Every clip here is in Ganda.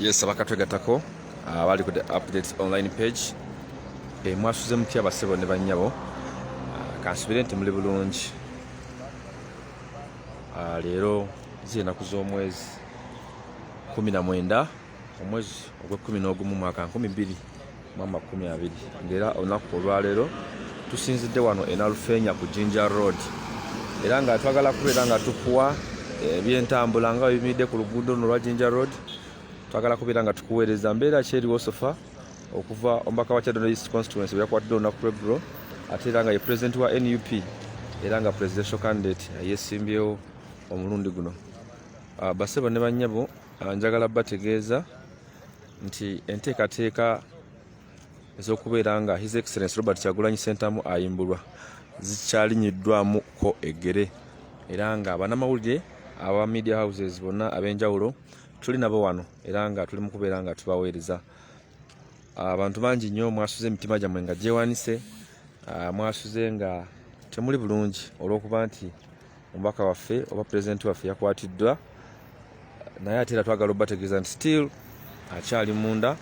yes abakatwegatako abali ah, ku the updates online page eh, mwasuze mutya basebo ne banyabo ah, kansubire nti muli bulungi ah, leero zienaku z'omwezi 19 omwezi ogw'ekumi n'ogumu mwaka 2 mu amakumi abiri ng'era olunaku olwaleero tusinzidde wano enalufeenya ku jinja road era nga twagala kubeera nga tukuwa eh, ebyentambula nga webimiridde ku luguudo luno olwa jinja road twagala kubeera nga tukuweereza mbeera ki eriwo sofa okuva omubaka wa kyadono east constituency weyakwatidde olunaku lweggulo ate era nga ye president wa nup era nga presidential candidate yesimbyewo omulundi guno ah, basebo ne banyabo ah, njagala bategeeza nti enteekateeka ez'okubeera nga his excellence robert kyagulanyi sentamu ayimbulwa zikyalinyiddwamu ko eggere era nga banamawulire aba media houses bonna ab'enjawulo tuli nabo wano era nga tuli mu kubeera nga tubaweereza abantu bangi nnyo mwasuze emitima gyammwe nga gyewanise mwasuze nga temuli bulungi olw'okuba nti omubaka waffe oba pulezidenti waffe yakwatiddwa naye ate era twagala obategeeza nti still akyali munda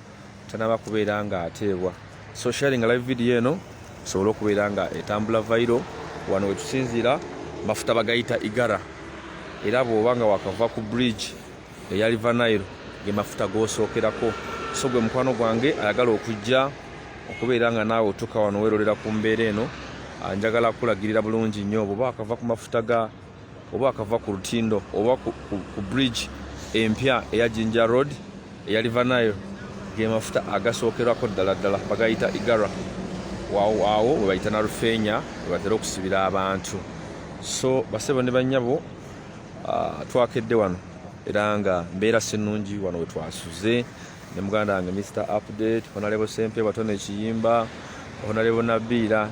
tanaba kubeera nga ateebwa so sharing live video eno esobole okubeera nga etambula vairo wano wetusinziira mafuta bagayita igara era bwoba nga wakava ku bridge eya liver nile ge mafuta gosookerako so gwe mukwano gwange ayagala okujja okubeera nga naawe otuuka wano werolera ku mbeera eno ah, njagala kulagirira bulungi nnyo oba akava ku mafuta ga oba akava ku lutindo oba ku, ku, ku bridge empya eya jinja road eya liver nile ge mafuta agasookerako ddala ddala bagayita igara awo webayita na lufeenya webatera okusibira abantu so basebo ne banyabo Ah, twakedde wano era nga mbeera sinungi wano wetwasuze ne muganda wange mr update honalebo sempe batona ekiyimba honalebo nabiira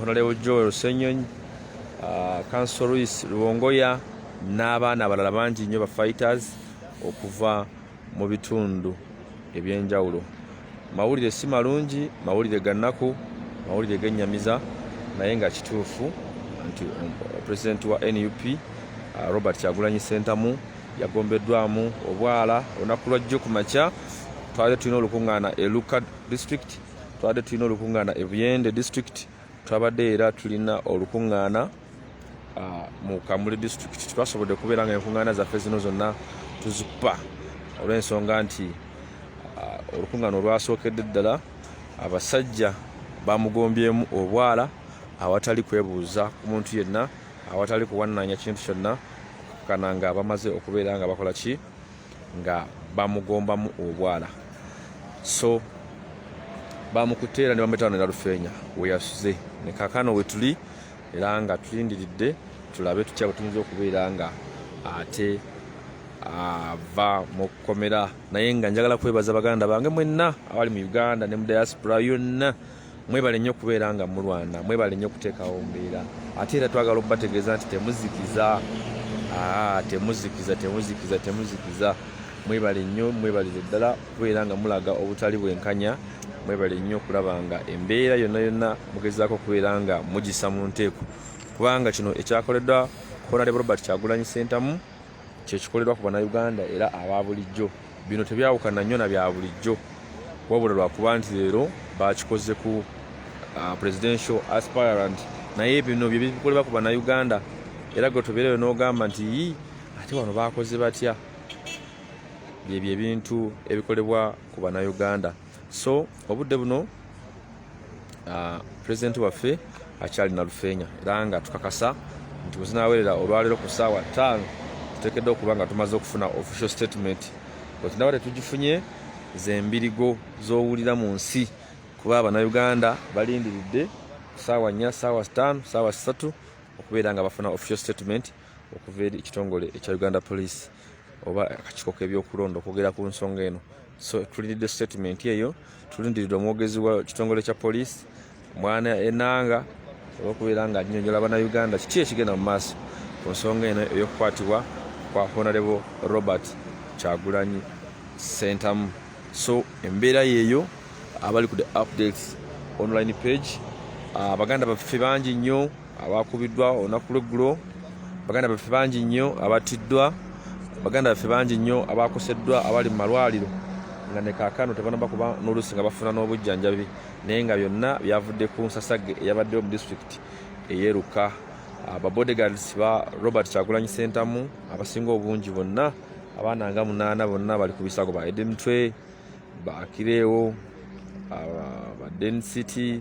honalebo ah, joel senyonyi kanso ah, luis luwongoya n'abaana abalala bangi nnyo ba fighters okuva mu bitundu ebyenjawulo mawulire si malungi mawulire gannaku mawulire genyamiza naye nga kituufu nti um, pulezidenti wa nup uh, robert kyagulanyi sentamu yagombeddwamu obwala olunaku lwajjo ku makya twabadde tulina olukuŋŋaana e luka district twabadde tulina olukuŋŋaana e buyende district Twabadde era tulina olukuŋŋaana ah, mu Kamuli disitulikiti. Twasobodde kubeera nga enkuŋŋaana zaffe zino zonna tuzikupa olw'ensonga nti ah, olukuŋŋaana olwasookedde ddala abasajja bamugombyemu obwala awatali kwebuuza ku muntu yenna, awatali kuwannaanya kintu kyonna, okukana nga bamaze okubeera nga bakola ki nga bamugombamu obwala so bamukutte era ne bamuyita wano eralufeenya weyasuze ne kakano wetuli era nga tulindiridde tulabe tutya bwe tuyinza okubeera nga ate ava mu kkomera naye nga njagala kwebaza baganda bange mwenna abali mu uganda ne mu diaspora yonna mwebale nnyo kubeera nga mulwana mwebale nnyo kuteekawo mbeera ate era twagala okubategeeza nti temuzikiza ah, temuzikiza temuzikiza temuzikiza mwebale nnyo mwebalire ddala kubeera nga mulaga obutali bwenkanya mwebale nnyo okulaba nga embeera yonna yonna mugezaako okubeera nga mugisa mu nteeko kubanga kino ekyakoleddwa honarebo robert kyagulanyi sentamu kyekikolerwa ku banauganda era aba bulijjo Bino tebyawukana nnyo na bya bulijjo wabula lwakuba nti leero bakikoze ku uh, presidential aspirant naye bino byebikolebwa ku banauganda era gwe tobeereyo n'ogamba nti yi ate wano bakoze batya byebyo ebintu ebikolebwa ku banauganda so obudde buno uh, president waffe akyali na lufeenya era nga tukakasa nti bwezinawerera olwaleero ku saawa taano tutekedde okuba nga tumaze okufuna official statement wetunaba tetugifunye zembirigo zowulira mu nsi kuba abanauganda balindiridde saawa nnya saawa sitaano saawa sisatu okubeera nga bafuna official statement okuva eri ekitongole ekya uganda police oba akakiiko kebyokulonda okwogera ku nsonga eno so tulindidde statement eyo tulindiridde omwogezi wa kitongole kya poliisi mwana enanga olwokubeera nga anyonyola banauganda kiki ekigenda mu maaso ku nsonga eno eyokukwatibwa kwa honarebo robert kyagulanyi sentamu so embeera yeeyo abali ku the updates online page abaganda ah, baffe bangi nnyo abaakubiddwa olunaku lweggulo baganda baffe bangi nnyo abattiddwa baganda baffe bangi nnyo abaakoseddwa abali mu malwaliro nga ne kaakano tebanaba kuba n'oluusi nga bafuna n'obujjanjabi naye nga byonna byavudde ku nsasage eyabaddewo mu disitulikiti eyeeruka ababodegards ah, ba robert kyagulanyi sentamu abasinga obungi bonna abaana nga munaana bonna bali ku bisago ba edemtwe bakireewo ah, ba dencity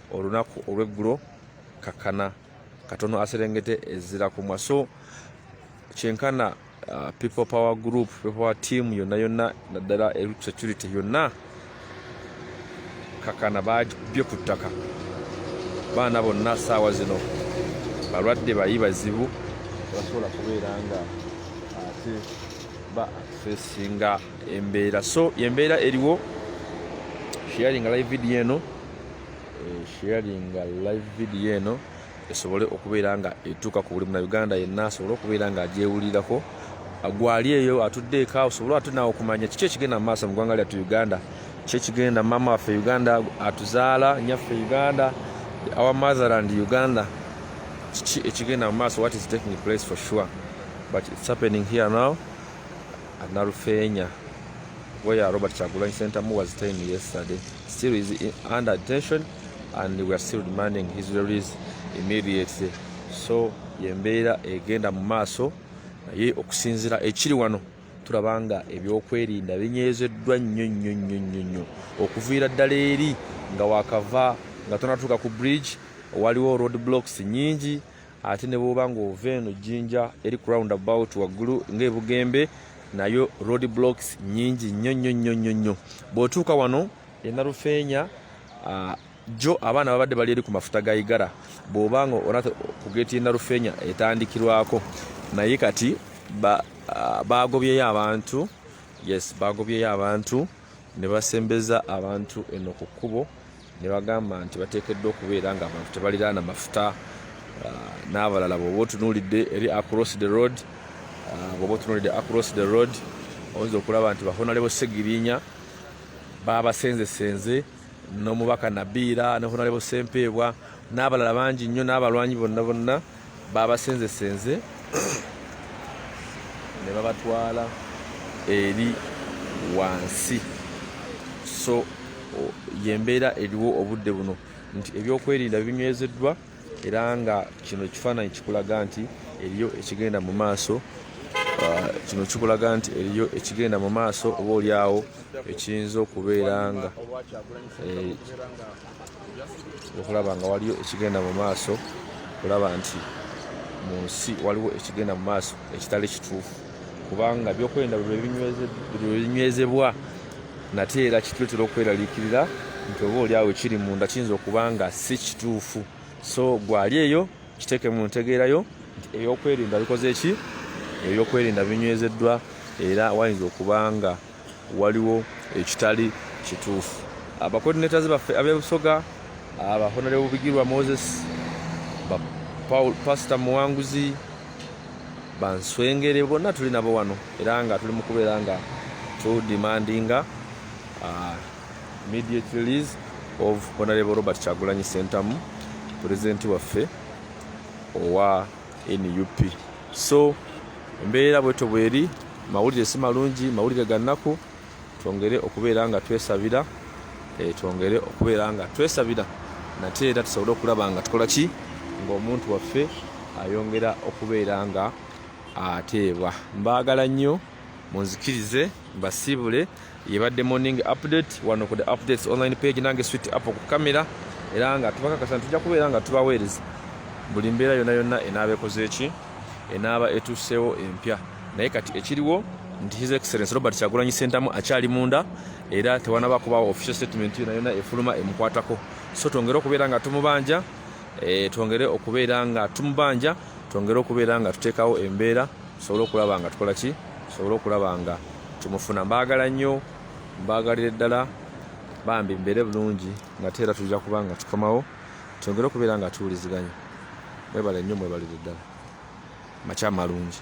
olunaku olweggulo kakana katono aserengete ezira kumwa so kyenkana uh, people power group people power team yonna yonna naddala e security yonna kakana bajbye ku ttaka baana bonna saawa zino balwadde bayi bazibu basobola kubeera nga ate ba fesinga embeera so embeera eriwo sharing live video eno sharinga live video eno esobole okubeera nga etuuka ku buli munauganda yenna asobole okubeera nga agyewulirako gwali eyo atudde eka osobole ate naawe okumanya kiki ekigenda mu maaso mu ggwanga lyattu uganda ki ekigenda maama waffe uganda atuzaala nyaffe uganda our motherland uganda kiki ekigenda mu maaso what is taking place for sure but it's happening here now at nalufeenya where robert kyagulanyi sentamu was ten yesterday Still is under detention and we are still demanding his release immediately. So yembeera egenda mu maaso naye okusinzira ekiri wano tulaba nga ebyokwerinda binyezeddwa nnyo nnyo nnyo nnyo nnyo okuviira ddala eri nga wakava nga tonatuuka ku bridge waliwo road blocks nyingi ate ne bwoba ng'ova eno jjinja eri ku round about waggulu ng'ebugembe nayo road blocks nyingi nnyo nnyo nnyo nnyo nnyo bw'otuuka wano enarufeenya jjo abaana babadde bali eri ku mafuta ga igara bw'oba nga ona ku geeti enarufeenya etandikirwako naye kati baagobyeyo abantu yes baagobyeyo abantu ne basembeza abantu eno ku kkubo ne bagamba nti bateekeddwa okubeera nga abantu tebaliraana mafuta ah, n'abalala bwoba otunuulidde eri across the road ah, bwoba otunuulidde across the road oyinza okulaba nti bahonalebo segirinya babasenzesenze n'omubaka nabiira ne honalebo sempeebwa n'abalala bangi nnyo n'abalwanyi bonna bonna baabasenzesenze ne babatwala eri wansi so yembeera eriwo obudde buno nti ebyokwerinda binywezeddwa era nga kino ekifaananyi kikulaga nti eriyo ekigenda mu maaso uh, kino kikulaga nti eriyo ekigenda mu maaso oba olyawo ekiyinza okubeera nga eh, okulaba nga waliyo ekigenda mu maaso okulaba nti mu nsi waliwo ekigenda mu maaso ekitali kituufu kubanga byokwerinda bwebinywezebwa nate era kituletera okweraliikirira nti oba oli awo kiri munda kiyinza okuba nga si kituufu so gwali eyo kiteeke mu ntegeerayo nti ebyokwerinda bikoze ki ebyokwerinda binywezeddwa era wayinza okuba nga waliwo ekitali kituufu abacoordinators baffe abebusoga abahonere bubigirwa moses pasita muwanguzi banswengere bonna tuli nabo wano era nga tuli mu kubeera nga tudemandinga uh, immediate release of honorable robert kyagulanyi sentamu pulezidenti waffe owa nup so embeera bwetyo bweri mawulire si malungi mawulire gannaku twongere okubeera nga twesabira eh, twongere okubeera nga twesabira nate era tusobole okulaba nga tukola ki ng'omuntu waffe ayongera okubeera nga ateebwa mbaagala nnyo munzikirize basiibule yebadde morning update wano ku the updates online page nange swit app ku kamera era nga tubakakasa tujja kubeera nga tubaweereza buli mbeera yonna yonna enaaba ekoze eki enaaba etuuseewo empya naye kati ekiriwo nti his excellence robert kyagulanyi sentamu akyali munda era tewanaba kubawo official statement yona yona efuluma emukwatako so twongere okubeera nga tumubanja eh, twongere okubeera nga tumubanja twongere okubeera nga tuteekawo embeera tusobole okulaba nga tukola ki tusobole okulaba nga tumufuna mbaagala nnyo mbaagalire ddala bambi mbeere bulungi ngate era tujja kuba nga tukomawo twongere okubeera nga tuwuliziganya mwebale nnyo mwebalire ddala makya malungi